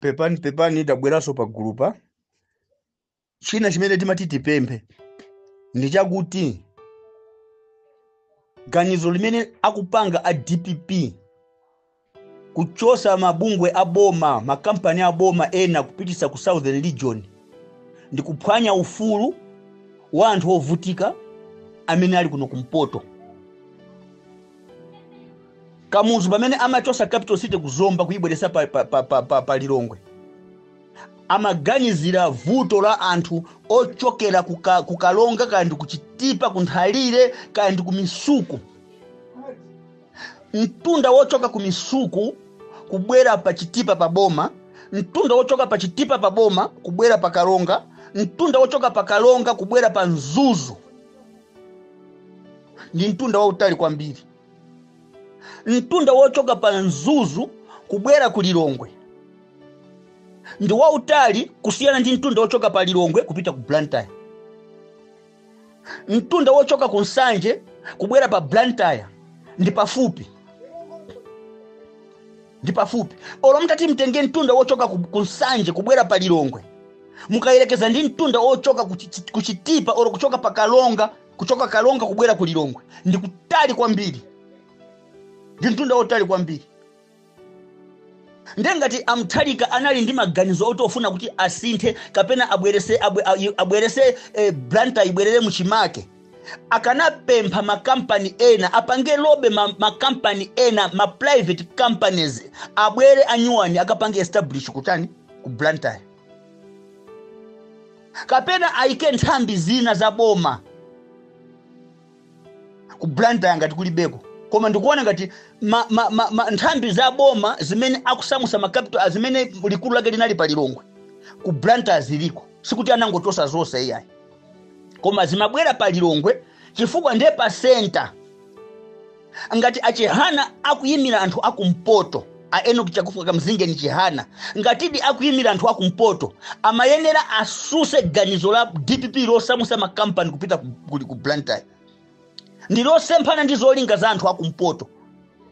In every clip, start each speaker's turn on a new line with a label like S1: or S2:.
S1: pepani pepani tabweranso pa gulupa china chimene timati tipemphe ndi chakuti ganizo limene akupanga a dpp kuchosa mabungwe a boma makampani a boma ena kupitisa ku southern region ndi kuphwanya ufulu wa anthu ovutika amene ali kuno kumpoto kamuzu pamene amachosa capital city ku zomba kuyibweresa pa, pa, pa, pa, pa, pa lilongwe amaganizira vuto la anthu ochokera kuka- ku Karonga kaya ndi kuchitipa kunthalire kaya ndi kumisuku mtunda wochoka kumisuku kubwera pa chitipa pa boma mtunda wochoka pa chitipa pa boma kubwera pa Karonga mtunda wochoka pa Karonga kubwera pa mzuzu ndi mtunda wautali kwambiri mtunda wochoka pa mzuzu kubwera ku lilongwe ndi wautali kusiyana ndi mtunda wochoka pa lilongwe kupita ku blantyre mtunda wochoka ku nsanje kubwera pa blantyre ndi pafupi ndi pafupi olo mutati mutenge mtunda wochoka ku, ku nsanje kubwera pa lilongwe mukayerekeza ndi mtunda wochoka ku Chi- ku chitipa olo kuchoka pa Karonga kuchoka Karonga kubwera ku lilongwe ndi kutali kwambiri ndi mtunda wotali kwambiri nde ngati a Mutharika anali ndi maganizo oti akufuna kuti asinthe kapena abwerese abwe- abwerese eh, blantyre ibwerere muchimake akanapempha makampani ena apange lobby ma- makampani ena ma private companies abwere anyuwani akapange establish kutani ku blantyre kapena ayike nthambi zina za boma ku blantyre ngati kulibeko koma ndikuona ngati ma, ma, ma, ma, nthambi za boma zimene akusamusa makapital a zimene likulu lake linali pa lilongwe ku blantyre ziliko sikuti anangochosa zonse iyayi koma zimabwera pa lilongwe chifukwa ndiye pa senta ngati a Chihana akuyimira anthu akumpoto a Enock chakufuka Kamzingeni chihana ngatidi akuyimira anthu akumpoto amayenera asuse ganizo la dpp losamusa makampani kupita ku, ku, ku blantyre ndilosemphana ndi zolinga za anthu akumpoto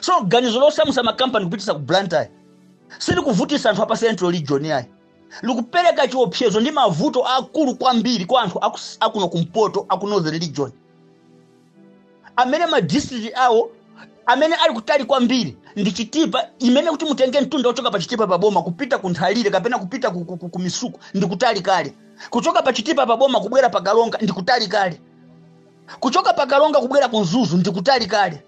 S1: so ganizo losamusa makampani kupitisa ku blantyre silikuvutisa anthu apa central region ayi likupereka chiopsezo ndi mavuto akulu kwambiri kwa anthu aku- akuno kumpoto aku northern region amene madistrict awo amene ali kutali kwambiri ndi chitipa imene kuti mutenge mtunda wochoka pa chitipa pa boma kupita ku nthalire kapena kupita ku, ku, ku, ku misuku ndi kutali kale kuchoka pa chitipa pa boma kubwera pa Karonga ndi kutali kale kuchoka pa Karonga kubwera ku mzuzu ndi kutali kale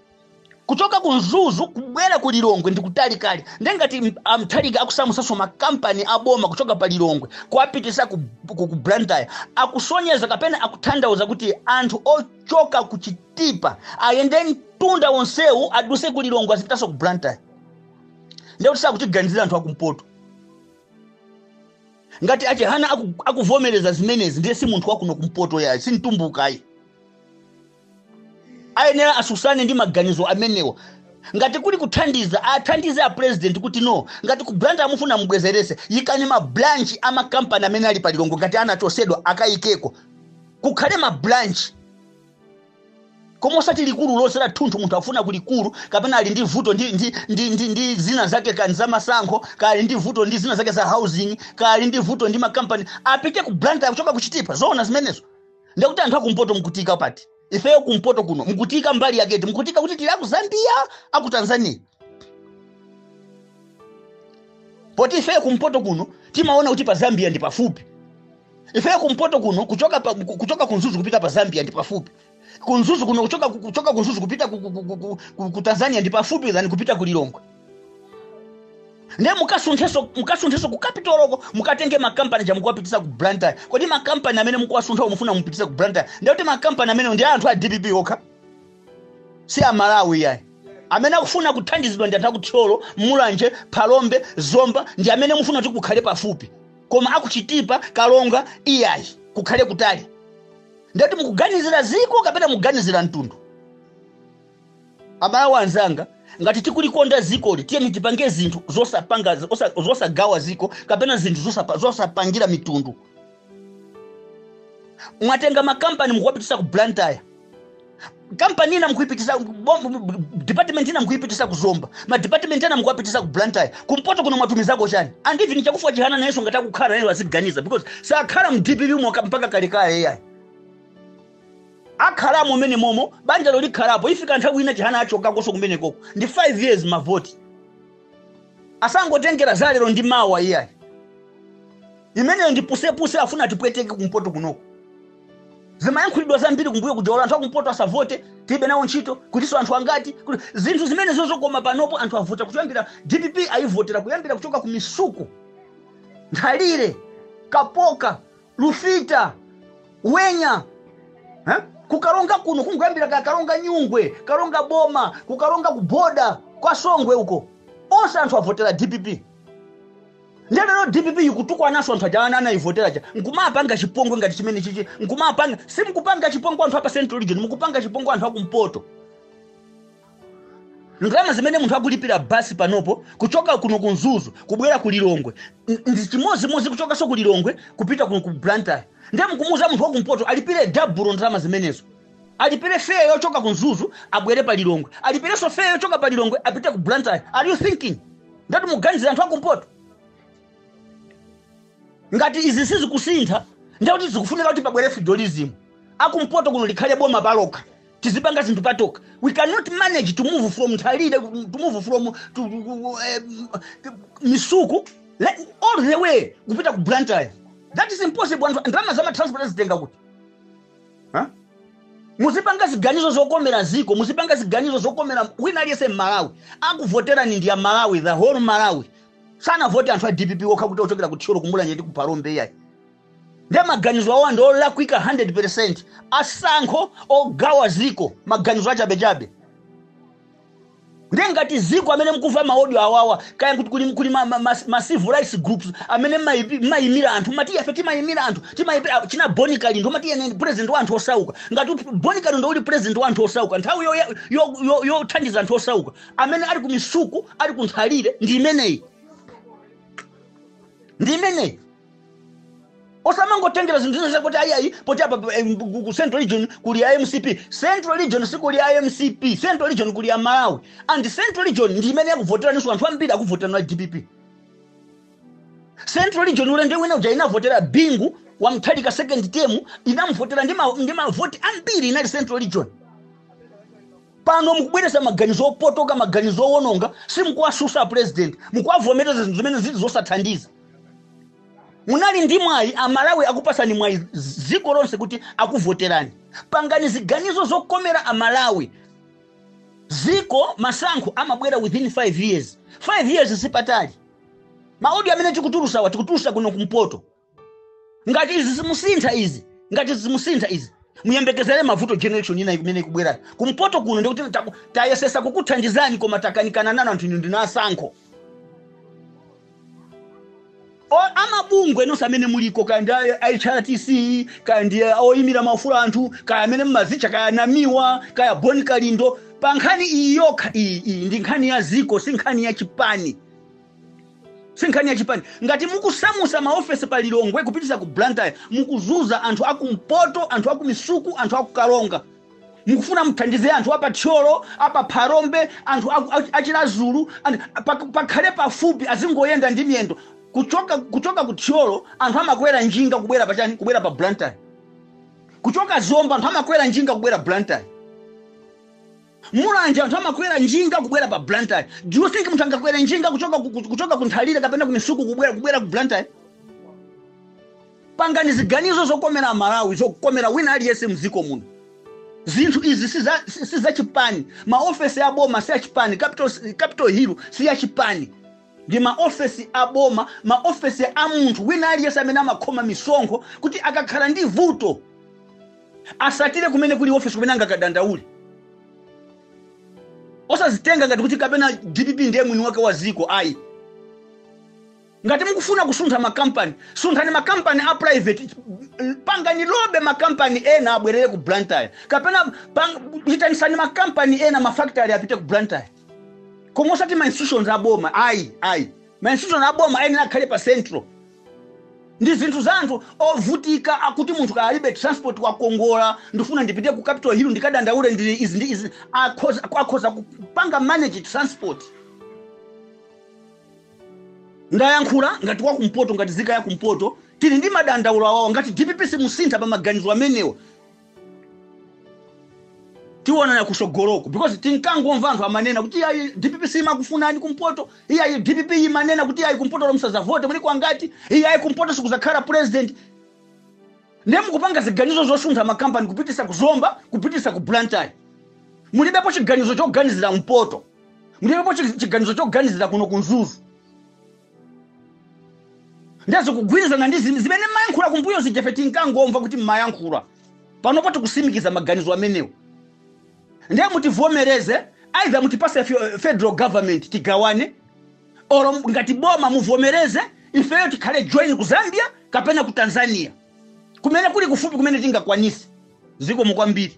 S1: kuchoka ku mzuzu kubwera ku lilongwe ndi kutalikali nde ngati m- amuthalika akusamusanso makampani aboma kuchoka pa lilongwe kuwapitisa ku, ku, ku blantyre akusonyeza kapena akuthandauza kuti anthu ochoka ku chitipa ayende mtunda wonsewu aduse ku lilongwe azipitanso ku blantyre nde kuti sakutiganizira anthu akumpoto ngati achihana aku- akuvomereza zimenezi ndiye si munthu wakuno kumpoto yayi si mtumbukayi ayenera asusane ndi maganizo amenewa ngati kuli kuthandiza athandize a president kuti no ngati ku blantyre mufuna mubwezerese yikani ma branch a makampani amene ali pa lilongwe ngati anachosedwa akayikeko kukhale ma branch koma osati likulu lonse la thunthu munthu afuna ku likulu kapena ali ndi vuto ndi, ndi, ndi, ndi, ndi zina zake kaya ndi za masankho kali ndi vuto ndi zina zake za housing kali ndi vuto ndi makampani apite ku blantyre akuchoka kuchitipa zoona zimenezo ndekuti anthu akumpoto mukutiika pati ifeyo kumpoto kuno mukutiika mbali yake iti mukutiika kuti tili aku zambia aku tanzania poti ifeyo kumpoto kuno timaona kuti pa zambia ndi pafupi ifeyo kumpoto kuno kuchoka, pa, ku- kuchoka kumzuzu kupita pa zambia ndi pafupi kumzuzu kuno kuchoka, kuchoka kumzuzu kupita ku, ku, ku, ku, ku, ku tanzania ndi pafupi than kupita ku lilongwe ndiye mukasunthenso mukasunthenso ku capital-ko mukatenge makampani aja mukuwapitisa ku blantyre kodi makampani amene mukuwasuntha mufuna mupitisa ku blantyre ndiye kuti makampani amenewo ndi a anthu a dpp okha si amalawi yayi amene akufuna kuthandizidwa ndi anthu akuthyolo mulanje phalombe zomba ndi amene mufuna kuti kukhale pafupi koma akuchitipa kalonga iyayi kukhale kutali ndiye kuti mukuganizira ziko kapena mukuganizira mtundu abale anzanga ngati tikulikonda zikoli tiyeni tipange zinthu zosapanga zosa- zosagawa ziko kapena zinthu zosapa- zosapangira mitundu mwatenga makampani mukuwapitisa ku blantyre kampani ina mukuipitisa bom- department ina mukuipitisa ku zomba madepartment ena mukuwapitisa ku blantyre kumpoto kuno mwatumizako chani and even chakufwa chihana nayenso ngati akukhala naye aziganiza because sakhala mu dpp momo mpaka kalekale iyayi akhalamo umene momo banjalo likhalapo ifika nthawi ina chihana achokakonso kumenekoko ndi 5 years mavoti asamangotengera za lero ndi mawa iyayi imeneyo ndi pusepuse afuna atipweteke kumpoto kunoko zimayankhulidwa zambiri kumbuyo kuja ola anthu akumpoto asavote tilibe nawo ntchito kutinso anthu angati kuti zinthu zimene zozokoma panopo anthu avota kuyambira dpp ayivotera kuyambira kuchoka ku misuku nthalire kapoka lufita wenya eh? kukaronga kuno kungoyambira ka karonga nyungwe karonga boma kukaronga ku border kwa songwe uko onse anthu avotera dpp nde lero dpp ikutukwananso anthu aja ana anayivotera aja nkumapanga chipongwe ngati chimene chichi nkumapanga simukuwapanga chipongwe anthu apa central region mukuwapanga chipongwe anthu akumpoto ndalama zimene munthu akulipira basi panopo kuchoka kuno ku mzuzu kubwera ku lilongwe n- ndi chimodzimodzi kuchokanso ku lilongwe kupita kuno ku blantyre ndiye mukumuuza munthu wakumpoto alipire dabulo ndalama zimenezo alipire feya yochoka ku mzuzu abwere pa lilongwe alipirenso feya yochoka pa lilongwe apite ku blantyre are you thinking ndati muganizira anthu akumpoto ngati izi sizikusintha ndekuti zikufunika kuti pabwere federalism akumpoto kuno likhale boma palokha tizipanga zinthu patokha we cannot manage to move from nthalire to move from to, um, misuku all the way kupita ku blantyre that is impossible anthu ndalama za matransport azitenga kuti muzipanga ziganizo zokomera ziko muzipanga ziganizo zokomera wina aliyense mmalawi akuvoterani ndi amalawi the whole malawi sanavote anthu a dpp okha kuti ochokera ku thyolo kumulanje ndi ku phalombe iyayi nde maganizo awa ndi olakwika 100 percent asankho ogawa ziko maganizo achabechabe nde ngati ziko amene mkuva maodio awawa kaya kuti kuli, kuli ma, ma, ma, ma civil rights groups amene maipi- maimira anthu mati ife timaimira anthu timaimira china boni kalindo mati ine ndi president wa anthu osauka ngati uti- boni kalindo uli president wa anthu osauka nthawi yothandiza yo, yo, yo yothandiza anthu osauka amene ali kumisuku ali kunthalire ndi imeneyi ndi imeneyi osamangotengera zinthu zina zakuti ayiayi poti apa pa- em, ku ku central region ndi ya mcp central region si ya mcp central region ndi ya amalawi and central region ndi imene yakuvoteraninso anthu ambiri akuvoterani a dpp central region ulende wina uja inavotera bingu wa mutharika second term inamvotera ndi ma- ndi mavoti ambiri inali central region pano mukubweresa maganizo opotoka maganizo owononga simukuwasusa president mukuwavomereza zinthu zimene zili zosathandiza munali ndi mwayi amalawi akupasani mwayi dziko lonse kuti akuvoterani pangani ziganizo zokomera amalawi dziko masankho amabwera within 5 years 5 years sipatali maodio amene tikutulusawa tikutulusa kuno kumpoto ngati izi simusintha izi ngati izi simusintha izi muyembekezere mavuto general election ina imene ikubwerayo kumpoto kuno ndikuti taku- tayesesa kukuthandizani koma takanikana nanu anthu inu ndinu asankho O- amabungwe nonse amene muliko kaya ndi a- a hrdc kaya ndi a- oyimira maufulu a anthu kaya amene mumazitcha kaya namiwa kaya boni kalindo pa nkhani iyi yokha iyi iyi ndi nkhani ya ziko si nkhani ya chipani si nkhani ya chipani ngati mukusamusa maofesi pa lilongwe kupitisa ku blantyre mukuzuza anthu akumpoto anthu akumisuku anthu akukaronga mukufuna muthandize anthu apa thyolo apa pharombe anthu aku- a- achilazulu and pa- pakhale pafupi azingoyenda ndi miyendo kuchoka kuchoka ku thyolo anthu amakwera njinga kubwera pa chani kubwera pa blantyre kuchoka zomba anthu amakwera njinga kubwera blantyre mulanje anthu amakwera njinga kubwera pa blantyre do you think munthu angakwere njinga kuchoka ku- ku- kuchoka ku nthalire kapena ku misuku kubwera kubwera ku blantyre Pangani ziganizo zokomera amalawi zokomera wina aliyense mziko muno. Zinthu izi siza, si- si zachipani. Maofesi a boma si achipani. Capital, Capital Hill si yachipani. Ndi maofesi a boma, maofesi a munthu wina aliyense amene amakhoma misonkho kuti akakhala ndi vuto asatire kumene kuli ofesi kumene angakadandaule. Osazitenga ngati kuti kapena DPP ndiye mwini wake wa ziko ayi. Ngati mukufuna kusuntha ma company, sunthani ma company a private, pangani lobby ma company ena abwerere ku Blantyre kapena pang, itanisani ma company ena, ma factory apite ku Blantyre koma osati ma institutions a boma ayi, ayi. Ma institution a boma ayenera akhale pa central ndi zinthu za anthu ovutika akuti munthu kaya alibe transport wakongola ndifuna ndipite ku capital hill ndikadandaule ndi izi ndi izi akhoza, akhoza kupanga manage transport. ndayankhula ngati wakumpoto ngati zika ya kumpoto tili ndi madandaulo awawa ngati dpp simusintha pa maganizo amenewa tiwonana kusogoloko because tinkangomva anthu amanena kuti ayi dpp simakufunani kumpoto oti ayi dpp imanena kuti ayi kumpoto olo musazavote mulipo angati oti ayi kumpoto sikuzakhala president ndiye mukupanga ziganizo zosuntha makampani kupitisa ku zomba kupitisa ku blantyre mulibepo chiganizo choganizira mpoto mulibepo chi- chiganizo choganizira kuno ku mzuzu nde zikugwirizana ndi zim- zimene mayankhula kumbuyo zija ife tinkangomva kuti mumayankhula panopo tikusimikiza maganizo amenewo ndiye mutivomereze either mutipase fe- federal government tigawane olo ngati boma muvomereze ifeyo tikajoine ku zambia kapena ku tanzania kumene kuli kufupi kumene tingakwanise zikomo kwambiri